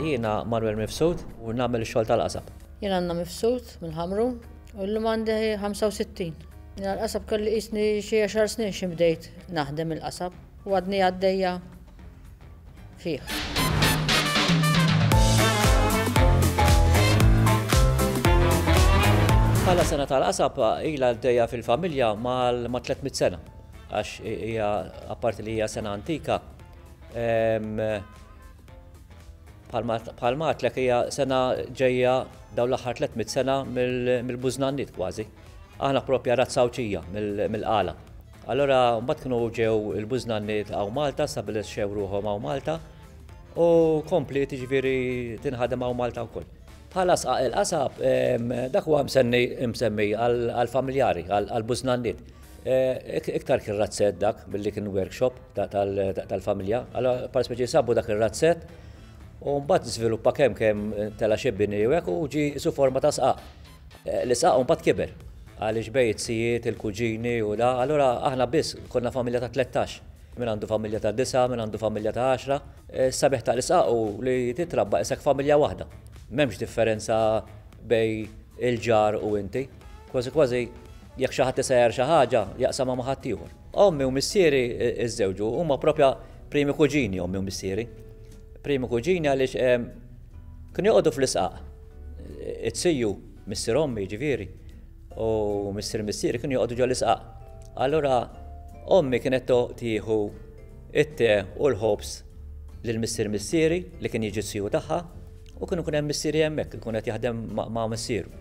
Jiena Manuel Mifsud u nagħmel ix-xogħol tal-qasab. Jiena Anna Mifsud minn Ħamru u llum għandi 65. Jiena l-qasab kelli qisni xi għaxar snin xi bdejt naħdem il-qasab u għadni għaddejja fih. Bħala sena tal-qasab ila għaddejja fil-familja ma' 300 sena għax hija apparti li hija sena antika Bħal matlek hija sena ġejja dawn l-aħħar 300 sena mill-bużnanniet kważi. Aħna propja razza uċija mill-qala. Allora mbagħad kienu ġew il-bużnanniet għaw Malta, stabilit xew ruħhom għaw Malta u kompli tiġifieri tinħadem għaw Malta wkoll. Bħala sqaq il-qasab dak huwa msemmi għall-familjari, għall-bużnanniet. Iktar kien razzett dak billi kien workshop tal-familja. Alla par speċi sabu dak ir-razzett u mbagħad żviluppa kemm kemm tela' xi bini u hekk u ġi su forma ta' sqaq. L-isqaq mbagħad kiber għaliex bejn it-sijiet, il-kuġini u da, allura aħna biss konna familja ta' tlettax. Min għandu familja ta' disa', min għandu familja ta' għaxra. Is-sabiħ ta' l-isqaq hu li titrabba qisek familja waħda. M'hemmx differenza bejn il-ġar u inti. Kważi kważi jekk xi ħadd isejjer xi ħaġa, jaqsamha ma' ħaddieħor. Ommi u missieri żżewġu, huma proprja primi kuġini ommi u missieri. Primi kuġini għaliex kienu joqogħdu fl-isqaq. It-siju, missier ommi ġifieri, u missier missieri kienu joqogħdu ġol isqaq. Allura ommi kienet tieħu it-te u l-ħobż lil missier missieri li kien jiġi siju tagħha U kienu kun hemm missieri hemmhekk, ikun qed jaħdem ma' missieru.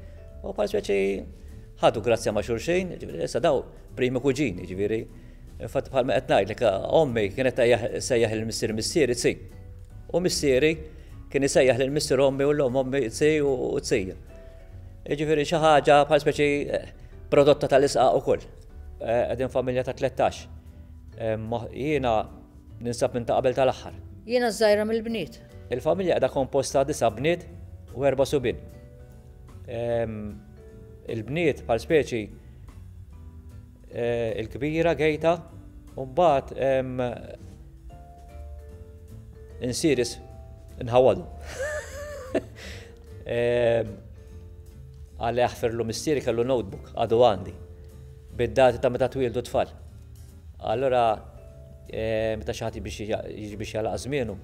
U bħal speċi ħadu grazzja ma' xulxin, ġifieri issa daw primi kuġini, ġifieri. Infatti bħal ma qed ngħidlek ommi kienet sejjaħ il-missier missieri tsi. U missieri kien isejjaħ lil missier ommi u l-om ommi tsi u tsija. Ġifieri xi ħaġa bħal speċi eh, prodotta tal-isqaq ukoll. Eh, qegħdin familja ta' 13. Eh, jiena ninsab minn ta' qabel tal-aħħar. Jiena żgħira mill-bniet. Il-familja qiegħda komposta għad disa' bniet u erba' subien. Il-bniet bħal speċi eh, il-kbira gejta u mbagħad insiris nħawadu. Għalli aħferlu mistieri kellu notebook għadu għandi bid-dati ta' meta twildu tfal. Allora, eh, meta xaħti biex jgħalaq żmienu,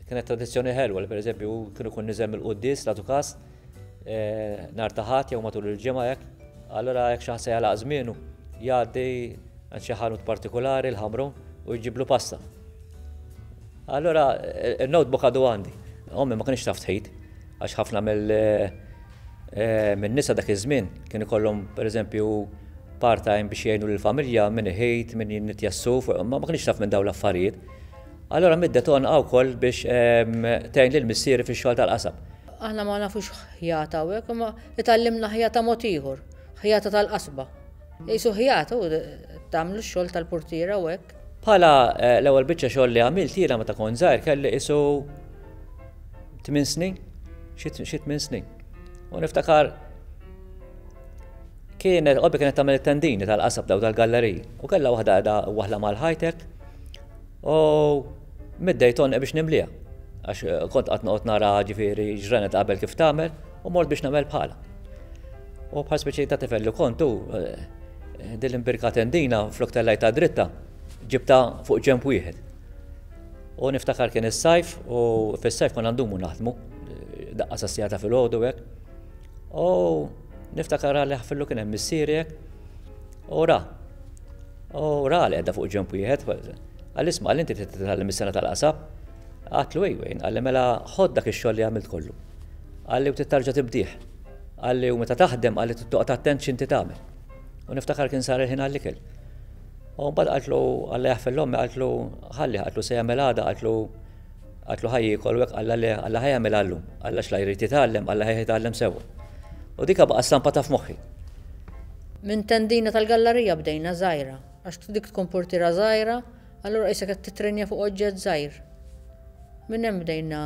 Kienet tradizzjoni ħelwa li pereżempju kienu kun niżem il-quddis la tukas eh, nar taħat jew matul il-ġimgħa hekk. Allura jekk xi ħadd se jagħlaq żmienu jgħaddi għand xi ħanut partikolari l-ħamru u jġiblu pasta. Allura il-notebook għadu għandi. Ommi ma kienx taf tħid għax ħafna mill- Min-nies ta' dak iż-żmien kien ikollhom, per eżempju, part-time biex jgħinu lill-familja, min iħit, min jinnitjessu, ma kinitx taf minn dawn l-affarijiet. Allura middet għonqha wkoll biex tgħin lil missieri fix-xogħol tal-qasab. Aħna ma nafux ħjata hawnhekk, imma itgħallimna ħjata mod ieħor, ħjata tal-qasba. Qisu ħjata hu tagħmlu x-xogħol tal-purtiera u hekk. Bħala l-ewwel biċċa xogħol li għamilt jiena meta kont żgħir kelli qisu tmien snin, xi tmien snin. U niftakar kienet qabel kienet tagħmel it-tendini tal-qasab daw tal-galleriji u kellha waħda qiegħda waħla mal-ħajtek u middej tonne biex nimliha. Għax kont qatt noqgħod nara ġifieri ġranet qabel kif tagħmel u mort biex nagħmel bħala. U bħal speċi ta' tifel li kontu eh, din l-imbirka tendina flok tal-lajta dritta ġibta fuq ġemp wieħed. U niftakar kien is-sajf u fis-sajf kon għandumu naħdmu eh, daqqa sassija ta' fil-ħodu hekk. U niftakar għalli ħafillu kien hemm missieri hekk. U ra. U ra li għedda fuq ġemp wieħed. Għal-isma' l-inti titgħallem is-sena tal-qasab. Għatlu ej Wayne, qalli mela ħodd dak ix-xogħol li għamilt kollu. Qalli u trid tarġa' tibdih. Qalli u meta taħdem qalli trid toqgħod attent x'inti tagħmel. U niftakar kien sar il-ħin għall-ikel. U mbagħad qaltlu Alla jaħfer l-ommi qaltlu ħalli qaltlu se jagħmel għada qaltlu qaltlu ħaj jiekol u hekk Alla le Alla ħaj jagħmel għallum. Alla x'la jrid jitgħallem, Alla ħaj jitgħallem sewwa. U dika baqa' stampata f'moħħi. Minn tendina tal-gallarija bdejna żgħira, għax dik tkun portiera żgħira Allura qisek qed tittrenja fuq oġġett żgħir. Minn hemm bdejna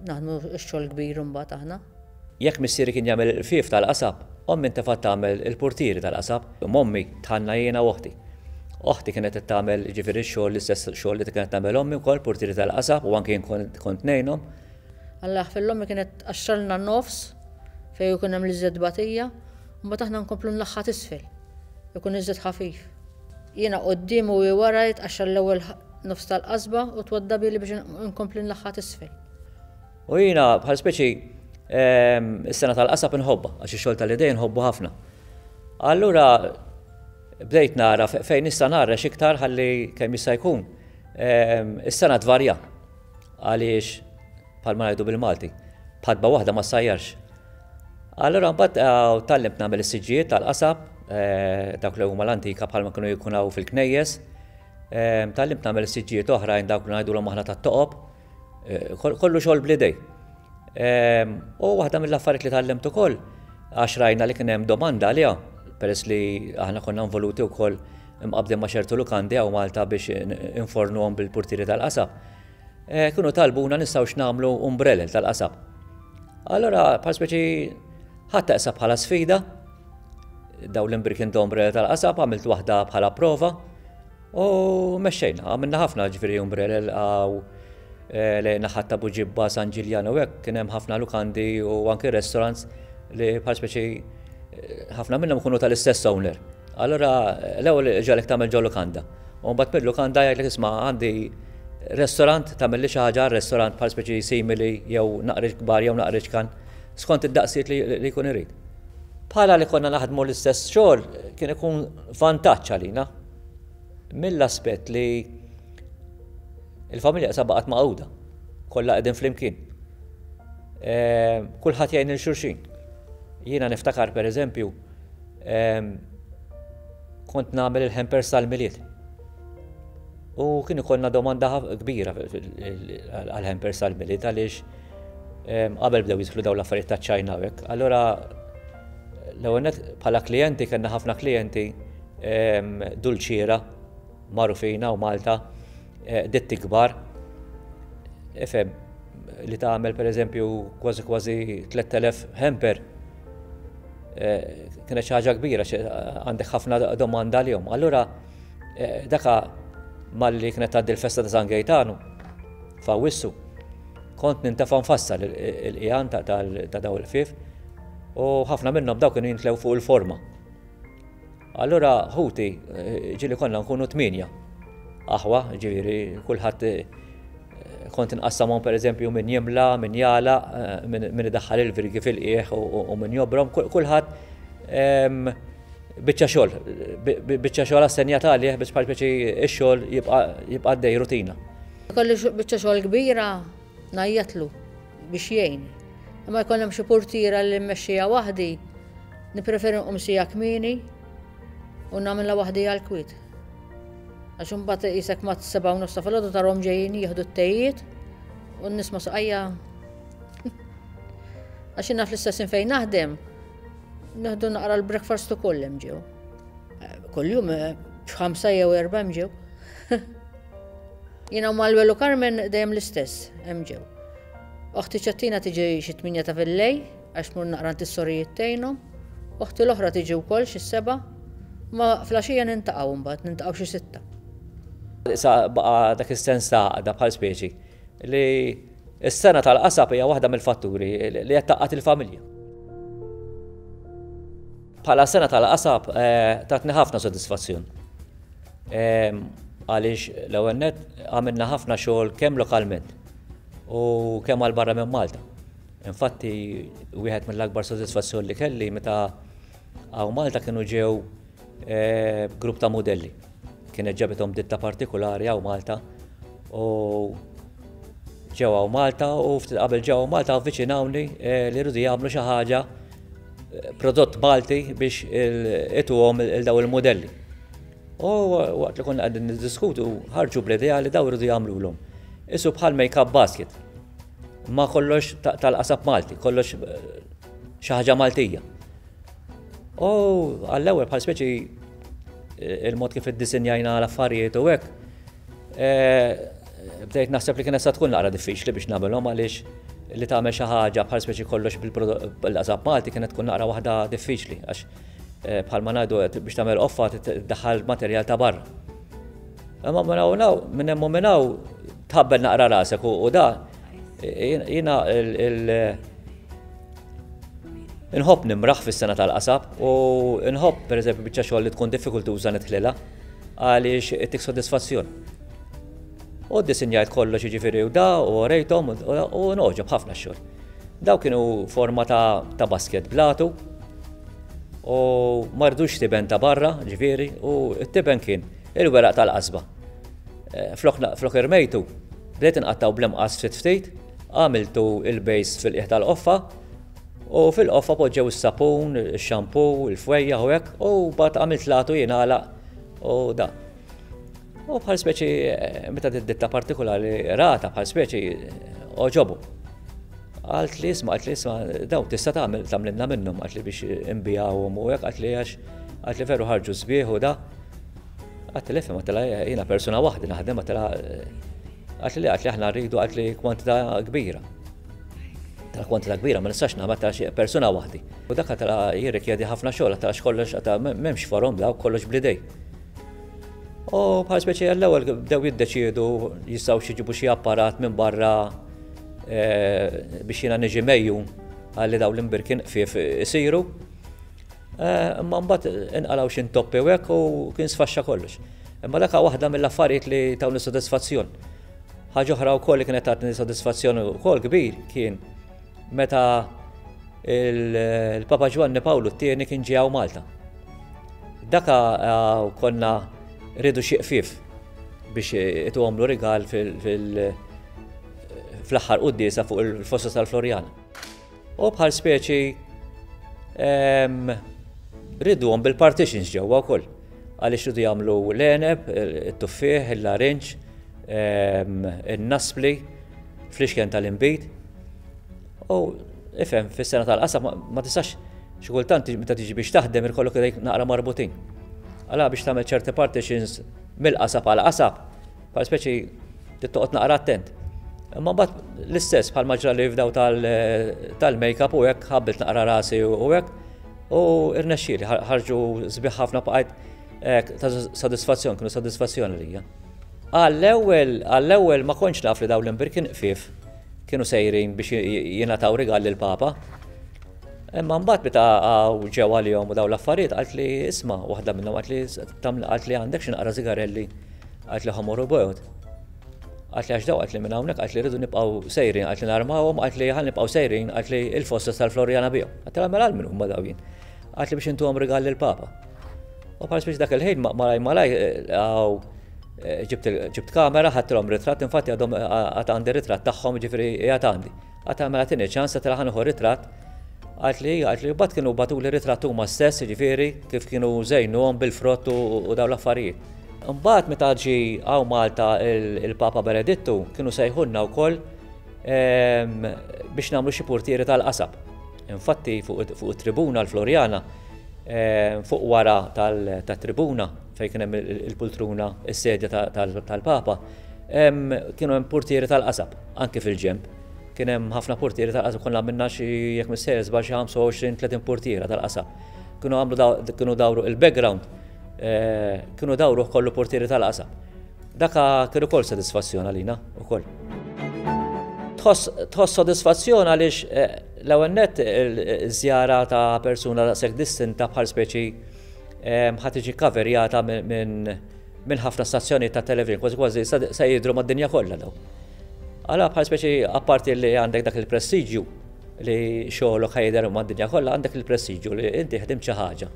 naħdmu x-xogħol kbir imbagħad aħna. Jekk missieri kien jagħmel il-qfief tal-qasab, ommi ntefgħet tagħmel il-purtieri tal-qasab. M'ommi dħalna jiena u oħti. Oħti kienet tagħmel jiġifieri x-xogħol l-istess xogħol li kienet tagħmel ommi wkoll, purtieri tal-qasab u anki jien kont ngħinhom. Alla jaħfir 'l ommi kienet tqaxxarlna n-nofs fejn ikun hemm l-iżjed tbatija, imbagħad aħna nkomplu n-naħħa t'isfel. Ikun iżjed ħafif. Jiena quddiem u hi wara jitqaxxa l-ewwel nofs tal-qasba u twodda bieli biex inkompli nlaħħat isfel. U jiena bħal speċi s-sengħa tal-qasab inħobbha għax ix-xogħol tal-idejn inħobbu ħafna. Allura bdejt nara fejn nista' ngħarrex iktar ħalli kemm jista' jkun is-sengħa tvarja għaliex Bħalma ngħidu bil-Malti, b'ħadba waħda ma ssajjarx. Allura mbagħad eh, tallimt nagħmel is-siġġijiet tal-qasab, eh, dawk li huma l-antika bħalma kienu jkun hawn fil-knejjes. Eh, tallimt nagħmel is-siġġijiet oħrajn dawk li ngħidulhom aħna tat-toqob. Kollu xogħol blidej. U waħda mill-affarijiet li tallimt ukoll għax rajna li kien hemm domanda għaliha peress li aħna konna involuti wkoll imqabdin ma' ċertu lukandi għaw Malta biex infornu għom bil-portiri tal-qasab. Kienu talbuna nistgħux nagħmlu umbrellel tal-qasab. Allura bħal speċi ħadd taqsa bħala sfida, daw l-imbrikin ta' umbrellel tal-qasab, għamilt waħda bħala prova, u mexxejna, għamilna ħafna ġifieri umbrellel għaw Eh, li naħat ta' Buġibba, San Ġiljan u hekk kien hemm ħafna lukandi u anke restaurants li bħal speċi eh, ħafna minnhom ikunu tal-istess owner. Allora eh, l-ewwel ġalek tagħmel ġol lukanda. U mbagħad Pedlu Kanda jgħidlek isma' għandi restorant tagħmilli xi ħaġa restorant bħal speċi simili jew naqriġ kbar jew naqriġ kan skont id-daqsijiet li jkun irid. Bħala li konna naħdmu l-istess xogħol kien ikun vantaġġ għalina mill-aspett li il-familja qisha baqgħet maqgħuda, kollha qegħdin flimkien. Ehm, kulħadd jgħin il xulxin. Jiena niftakar pereżempju Kont nagħmel il-hampers tal-Milied. U kien ikollna domanda kbira għal-hampers tal-Milied għaliex qabel bdew jidħlu dawn l-affarijiet ta' ċajna hekk. Allura l-ewwel bħala klijenti kellna ħafna klijenti dulċiera magħrufina u Malta eh, ditti kbar. Ifhem li tagħmel pereżempju kważi kważi 3000 hamper Eh, kienet xi ħaġa kbira, għandek ħafna domanda li jom. Allura, eh, daka malli kienet għaddi l-festa ta' San Gejtanu, fawissu, kont nintafa nfassal il-qijan ta' daw il-fif, u ħafna minnhom daw kienu jintlew fuq il-forma. Allura ħuti, ġieli konna nkunu tmienja. Aħwa, ġifieri kulħadd kont inqassamhom pereżempju min jimla, min jala, min idaħħal il-virgi fil-qiegħ u min jobrom, kulħadd biċċa xogħol, biċċa xogħol assenjata għalih biex bħal peċi x-xogħol jibqa' għaddej rutina. Kolli biċċa xogħol kbira ngħajjatlu. biex jgħin. Imma jkun hemm xi purtiera li mmexxiha waħdi, nippreferi nqum sija kmieni u nagħmilha waħdi għal kwiet. Għax imbagħad isek mat seba' u nofsa fil-għodu tarhom ġejjin jieħdu t-tejiet u nisma' saqajja. Għax inaf l-istess fejn naħdem, naħdu naqra l-breakfast u koll ġew. Kull-jum eh, b'ħamsa jew erba' ġew. Jiena u Malwel u Carmen dejjem l-istess, hemm ġew. Oħti Ċettina tiġi xi tmienja ta' fil-lejl għax tmur naqra għand is-sorijiet tgħinhom, oħti l-oħra tiġi wkoll xi s-sebgħa, imma fl-għaxija niltaqgħu mbagħad, niltaqgħu xi sitta. Issa baqa' dak is-sens ta' għaqda bħal speċi li s-sengħa tal-qasab hija waħda mill-fatturi li qed tgħaqqad il-familja. Bħala s-Sena tal-Qasab tatni ħafna sodisfazzjon. Għaliex l-ewwel nett għamilna ħafna xogħol kemm lokalment u kemm għal barra minn Malta. Infatti wieħed mill-akbar sodisfazzjon li kelli meta hawn Malta kienu ġew grupp ta' mudelli. Kienet ġabithom ditta partikulari hawn Malta u ġew hawn Malta u ftit qabel ġew hawn Malta avviċinawni eh, li rridu jagħmlu xi ħaġa eh, prodott Malti biex ituhom il-daw il-modelli. U waqt li konna qegħdin niddiskutu ħarġu bl-idea li daw irridu jagħmlulhom. Isu bħal make-up basket. Ma kollox tal-qasab Malti, kollox eh, xi ħaġa Maltija. U għall-ewwel bħal speċi eh, il-mod kif iddisinjajna l-affarijiet u hekk. Eh, bdejt naħseb li kienet sa tkun naqra diffiċli biex nagħmilhom għaliex li tagħmel xi ħaġa bħal speċi kollox bil-qasab Malti kienet tkun naqra waħda diffiċli għax eh, bħal ma ngħidu biex tagħmel offa daħal materjal ta' barra. Imma minn hawn minn hemm minn hawn tħabbel naqra rasek u da jiena il- Inħobb nimraħ fis-sena tal-qasab u nħobb pereżempju biċċa xogħol li tkun diffikultuża nidħlilha għaliex ittik sodisfazzjon. U ddisinjajt kollox jiġifieri u da u orejthom u noġob ħafna x-xogħol. Daw kienu forma ta' basket blatu u ma rdux tiben ta' barra ġifieri u t-tiben kien il-weraq tal-qasba. Eh, flok irmejtu, Bdejt inqatta' u bl-imqas ftit ftit għamiltu il-base fil-qiegħ tal-qoffa u fil-qoffa poġġew is-sapun, ix-xampu, il-fwejjaħ u hekk u mbagħad għamilt l-għatu jien għalaq u da. U bħal speċi meta ditta partikolari rata bħal speċi oġobu. Għalt li jisma, għalt li jisma, daw tista' tagħmel tagħmlilna minnhom għalt li biex imbijawhom u hekk għalt li għax għalt li veru ħarġu sbieħ u da. Għat li fem, għatla jina persona wahdi naħdem, għatla għat li għat li ħna rridu għat li kwantita kbira. Tal kwantita kbira, ma nistax naħma ta' xie persona wahdi. U dak għatla jirrikjedi ħafna xogħol, għatla xkollox għatla memx forom daw kollox blidej. U bħal speċi għall-ewel bdew jiddeċiedu jistaw xieġibu xie apparat minn barra eh, biex jina niġi mejju għalli daw l-imbirkin fif isiru. Eh, imma mbagħad inqalgħu xi ntoppi hekk u kien sfaxxa kollox. Imma dak waħda mill-affarijiet li tawni sodisfazzjon. Ħaġa oħra wkoll li kienet tagħtni sodisfazzjon ukoll kbir kien meta il-Papa Ġwanni Pawlu t-tieni kien ġew Malta. Daka eh, konna ridu xieqfif biex itgħomlu rigal fil- fl-aħħar qudiesa fuq il-fossa tal-Floriana. U bħal speċi ehm, riduhom bil-partitions ġewwa wkoll. Għaliex ridu jagħmlu l-eneb, it-tuffieħ, il-larinġ, ehm, in-naspli, fl-ixken tal-inbid. U ifhem fis-sena tal-qasam ma tistax xi kultant meta tiġi biex taħdem irkollok naqra marbutin. Għala biex tagħmel ċerti partitions mill-qasab għal qasab Bħal speċi trid toqgħod naqra attent. Imma mbagħad l-istess bħal maġra li fdaw tal-makeup u hekk ħabbilt naqra rasi u hekk u rnexxieli ħarġu sbieħ ħafna bqajt ta' sodisfazzjon kienu sodisfazzjon lija. Għall-ewwel għall-ewwel ma kontx naf li dawn l-imbir kien qfif kienu sejrin biex jingħataw rigal lill-Papa. Imma mbagħad meta qagħu ġew għalihom u dawn l-affarijiet qaltli isma' waħda minnhom qaltli tagħmel qaltli għandek xi naqra sigarelli qaltli ħomor u bogħod. Qaltli għax daw qaltli minn hawnhekk qaltli rridu nibqgħu sejrin qaltli narmawhom qaltli ħa nibqgħu sejrin qaltli il-fossas tal-Floriana bihom. Għattilha mela għal min huma daw jien. Qaltli biex intuhom rigal lill-Papa. U bħal spiċ dak il-ħin malaj malaj għaw ġibt kamera ħadtilhom ritratt infatti għadhom għad għandi ritratt tagħhom ġifieri qiegħed għandi. Qatt għamilt għal tieni ċans, għedtilha ħa nieħu r-ritratt. Qaltli, qaltli, imbagħad kienu bagħtuli r-ritratt huma stess, jiġifieri kif kienu żejnuhom bil-frott u dawn l-affarijiet. Imbagħad meta ġie hawn Malta il-Papa Benedittu kienu sejħulna wkoll biex nagħmlu xi purtieri tal-qasab. Infatti fuq it-tribuna l-Floriana, fuq wara tat-tribuna fejn kien hemm il-pultruna, is-sedja tal-Papa, Kienu hemm purtieri tal-qasab, anki fil-ġenb. Kien hemm ħafna purtieri tal-qasab, konna minna xi jekk missejjer żball xi 25-30 purtiera tal-qasab. Kienu għamlu kienu dawru il-background, eh, kienu dawru kollu purtieri tal-qasab. Daka kienu kol sodisfazzjon għalina u kol. Tħoss sodisfazzjon għaliex eh, l-ewwel net żjara ta' persuna daqshekk distinta bħal speċi eh, ħatiġi kaverjata minn Minn ħafna stazzjonijiet ta' televin, kważi kważi se jidhru mad-dinja kollha daw. Għala bħal speċi apparti li għandek dak il-prestiġju li xogħolok ħajder mad-dinja kollha għandek il-prestiġju li inti ħdim xi ħaġa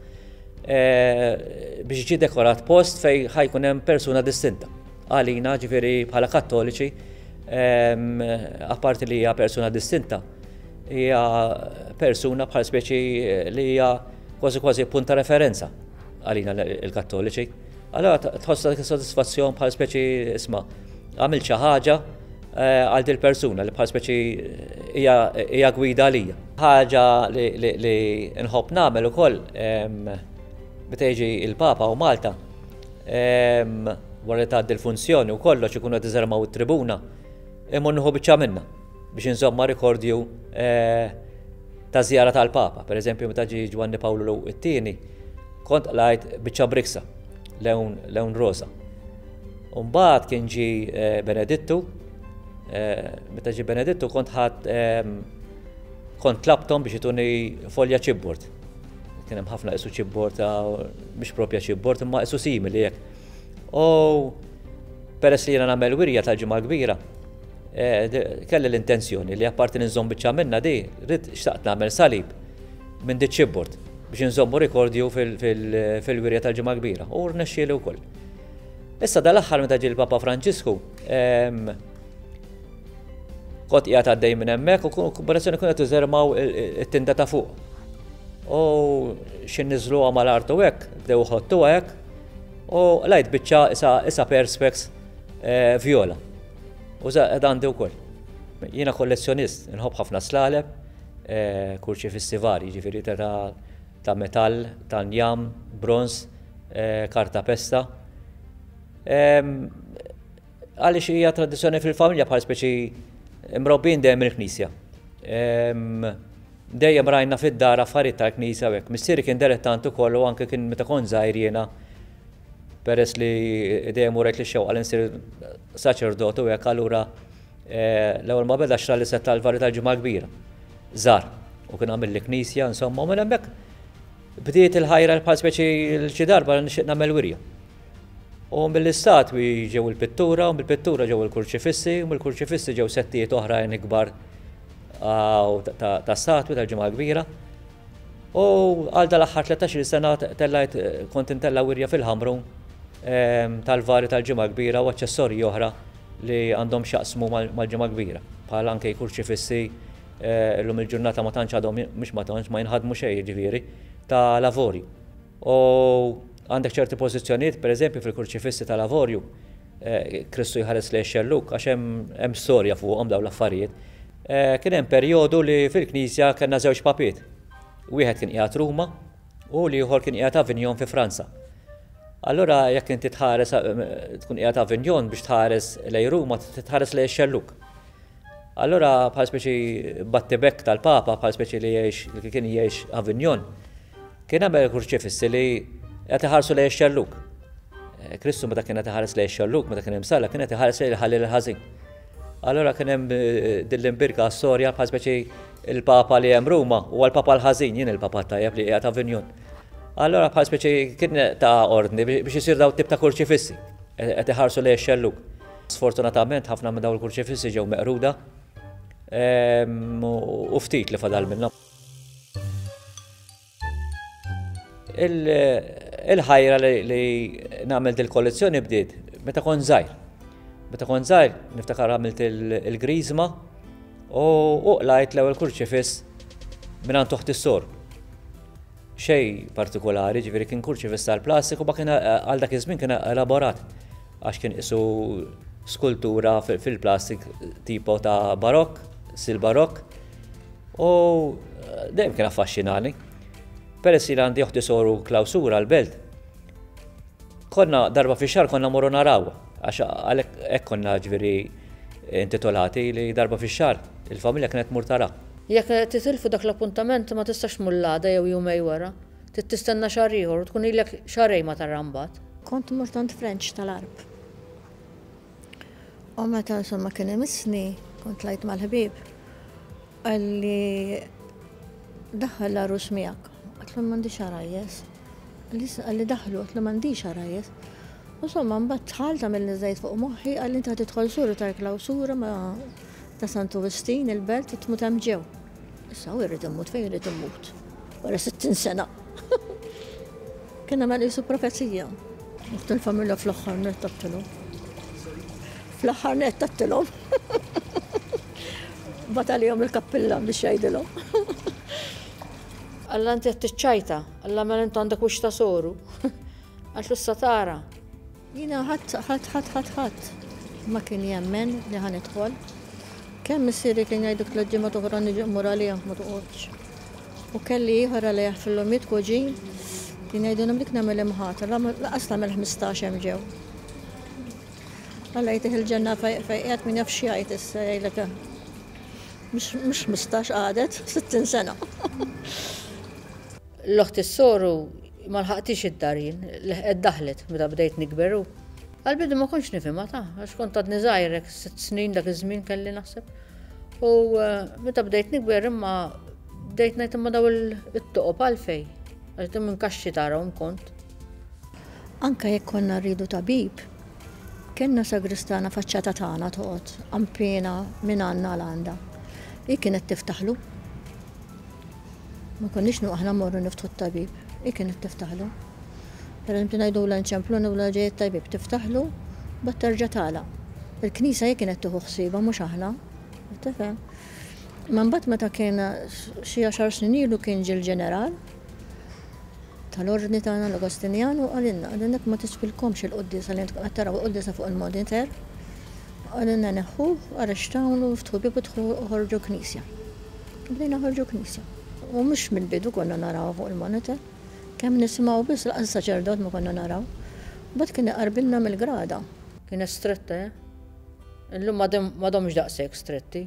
eh, biex ġi dekorat post fej ħajkun hemm persuna distinta. Għalina ġifieri bħala kattoliċi ehm, apparti li hija persuna distinta, hija persuna bħal speċi li hija kważi kważi punta referenza għalina il-kattoliċi. Allura tħoss dak is-sodisfazzjon bħal speċi isma' għamilt xi ħaġa eh, għal dil persuna li bħal speċi hija gwida għalija. Ħaġa li nħobb nagħmel ukoll meta jiġi il-Papa u Malta wara li tgħaddi l-funzjoni u kollox ikunu diżarmaw it-tribuna imma nħu biċċa minna. biex inżommha rikordju ta' żjara tal-Papa. Per eżempju, meta ġi Ġwanni Pawlu it-tieni, kont qlajt biċċa briksa, lewn, lewn rosa. Umbagħad kien ġi eh, Benedittu, eh, meta ġi Benedittu kont ħadd ehm, kont tlabtom biex ituni folja ċibbord. Kien hemm ħafna isu ċibbord ta' mhix propja ċibbord imma isu simili hekk. U peress li jiena nagħmel wirja tal-ġimgħa kbira, Eh, kelli l-intenzjoni li apparti li nżomm biċċa minna di, rrid xtaqt nagħmel salib minn di ċibbord biex nżommu rikordju fil-wirja tal-ġimgħa kbira u rnexxieli wkoll. Issa dal-aħħar meta ġie l-Papa Franġisku, ehm, kont qiegħed għaddej minn hemmhekk u kumbinazzjoni kienet iżermaw it-tinda ta' fuq. U xi niżlu għamal artu hekk, bdew ħottu hekk, u lajt biċċa isa perspex eh, viola. U za qed għandi wkoll. Jiena kollezzjonist, inħobb ħafna slaleb, eh, kurċifissi varji, ġifieri ta' ta' metall, ta' njam, bronz, eh, karta pesta. Ehm, għaliex hija tradizzjoni fil-familja bħal speċi mrobbin dejjem il-knisja. Ehm, dejjem rajna fid-dar affarijiet tal-knisja hekk. Missieri kien dilettant ukoll u anke kien meta kont żgħir jiena Peress li dejjem urejt li xewqa li nsir saċerdot u hekk allura l-ewwel ma beda xra li set tal-varri tal-ġimgħa kbira. Żar u kien għamil li knisja insomma u minn hemmhekk bdiet il-ħajra bħal speċi l-xi darba li nixtieq nagħmel wirja. U mill-istatwi ġew il-pittura, u mill-pittura ġew il-kurċifissi, u mill-kurċifissi ġew settijiet oħrajn ikbar ta' statwi tal-ġimgħa kbira. U għal dal-aħħar tletax-il sena tellajt, kont intella' wirja fil-Ħamrun tal-vari tal-Ġimgħa Kbira u aċċessorji oħra li għandhom x'jaqsmu mal-Ġimgħa Kbira, bħal anke kurċifissi, illum il-ġurnata ma tantx għadhom, mhux ma tantx, ma jinħadmu xejn jiġifieri, ta' l-avorju. U għandek ċerti pożizzjonijiet, per eżempju fil-kurċifissi ta' l-avorju, Kristu jħares lejn ix-xellug, għax hemm storja fuqhom dawn l-affarijiet, Eh, kien hemm perjodu li fil-Knisja kellna żewġ papiet. Wieħed kien qiegħed Ruma u l-ieħor kien qiegħed Avignon fi Franza. Allura jekk inti tħares eh, tkun qiegħed Avignon biex tħares lej Ruma tħares lej xelluk. Allura bħal speċi battibek tal-Papa bħal speċi li jgħix li kien jgħix Avignon. Kien hemm il-kurċifissi li qed iħarsu lej xelluk. Eh, Kristu meta kien qed iħares lej xelluk, meta kien hemm sala, kien qed iħares lej il-ħalil ħażin. Allura kien hemm din l-imbirka għas-Sorja bħal speċi il-Papa li hemm Ruma huwa l-Papa l-ħażin, jien il-Papa tajjeb li qiegħed Avinjon. Allura bħal speċi kien ta' ordni biex isir daw tip ta' kurċifissi qed iħarsu lejn xelluk. Sfortunatament ħafna minn daw il-kurċifissi ġew meqruda ehm, u ftit li fadal minnhom. Il-ħajra li nagħmel dil-kollezzjoni bdiet meta kont żgħir. Meta kont żgħir niftakar għamilt il-griżma u uqlajt l-ewwel kurċifis minn għand uħti s-sor. Xej partikolari, ġifieri kien kurċifis tal-plastiku ma kien għal dak iż-żmien kien elaborat għax kien isu skultura fil-plastik tipo ta' barok, sil barok. U dejjem kien affaxxinani. Peress li għandi oħti soru klawsura l-belt, konna darba fi xar konna morru naraw, għax għalek ek konna ġviri intitolati li darba fi xar il-familja kienet mur tara. Jekk titilfu dak l-appuntament ma tistax tmur l-għada jew jumej wara, trid tistenna xar ieħor u tkun ilek xahrejn ma tara mbagħad. Kont mur tant Frenċ tal-Għarb. U meta insomma kien imissni, kont lajt mal-ħbib, għalli daħħal l-arus miegħek. Għatlu mandi xarajjes. Għalli daħlu, għatlu mandi xarajjes. U somma mbatt tħal ta' mill żejt fuq moħħi, għalli inta tidħol suru tal-klawsura ma' ta' Santu Wistin il-belt u tmut hemm ġew. Issa u irrid immut fejn irrid immut. Wara 60 sena. Kien hemm għalisu profezija. Uħt il-familja fl-aħħar net tattilhom. Fl-aħħar net tattilhom. Batalihom il-kappilla biex jgħidilhom. Alla inti qed tiċċajta, alla mela intu għandek wix ta' soru. Għax l-satara. Jiena ħadd ħadd ħadd ħadd ħadd ma kien jemmen li ħa nidħol. Kemm missieri kien jgħid dik l-ġimgħa toħra niġi mmur għalih ma toqgħodx. U kelli ieħor għalih fil-lumiet kuġin kien jgħidilhom dik nagħmel imħatar, laqas nagħmel 15 hemm ġew. Alla jtih il-ġenna fejqet min jaf x'jgħid issa jgħidlek mhux 15 qadet 60 sena. L-oħt is-sor u ma lħaqtix id-dar jien, leħqet daħlet meta bdejt nikber u. Għall-bidu ma kontx nifhimha ta' għax kont għadni żgħir hekk sitt snin dak iż-żmien kelli naħseb. U eh, meta bdejt nikber imma bdejt ngħid imma daw il-toqob għalfej. Għax tim minn kaxxi tarahom kont. Anka jekk konna rridu tabib, kellna sagristana faċċata tagħna toqgħod għampina minn għandna għal għandha. Hi kienet tiftaħlu. Ma konniex nu aħna morru niftħu t-tabib, hi kienet tiftaħlu. Per eżempju ngħidula nċemplu nula ġej it-tabib tiftaħlu, bat terġa' tagħlaq. Il-Knisa hi kienet tieħu ħsiba mhux aħna. Tifhem? Ma mbagħad meta kien xi għaxar snin ilu kien ġil ġeneral tal-ordni tagħna l-Agostinjan u qalilna għalinnek ma tispilkomx il-quddisa li tkun qed taraw il-quddisa fuq il-monitor. Qalilna neħħu, arrestawlu, ftħu bib u ħorġu knisja. Bdejna ħorġu knisja. U mhux mill-bidu konna narawha fuq il-monitor. Kemm nisimgħu biss laqas is-saċerdot ma konna naraw. Mbagħad kien iqarbilna mill-grada. Kienet stretta, eh? Illum m'għadhomx daqshekk stretti.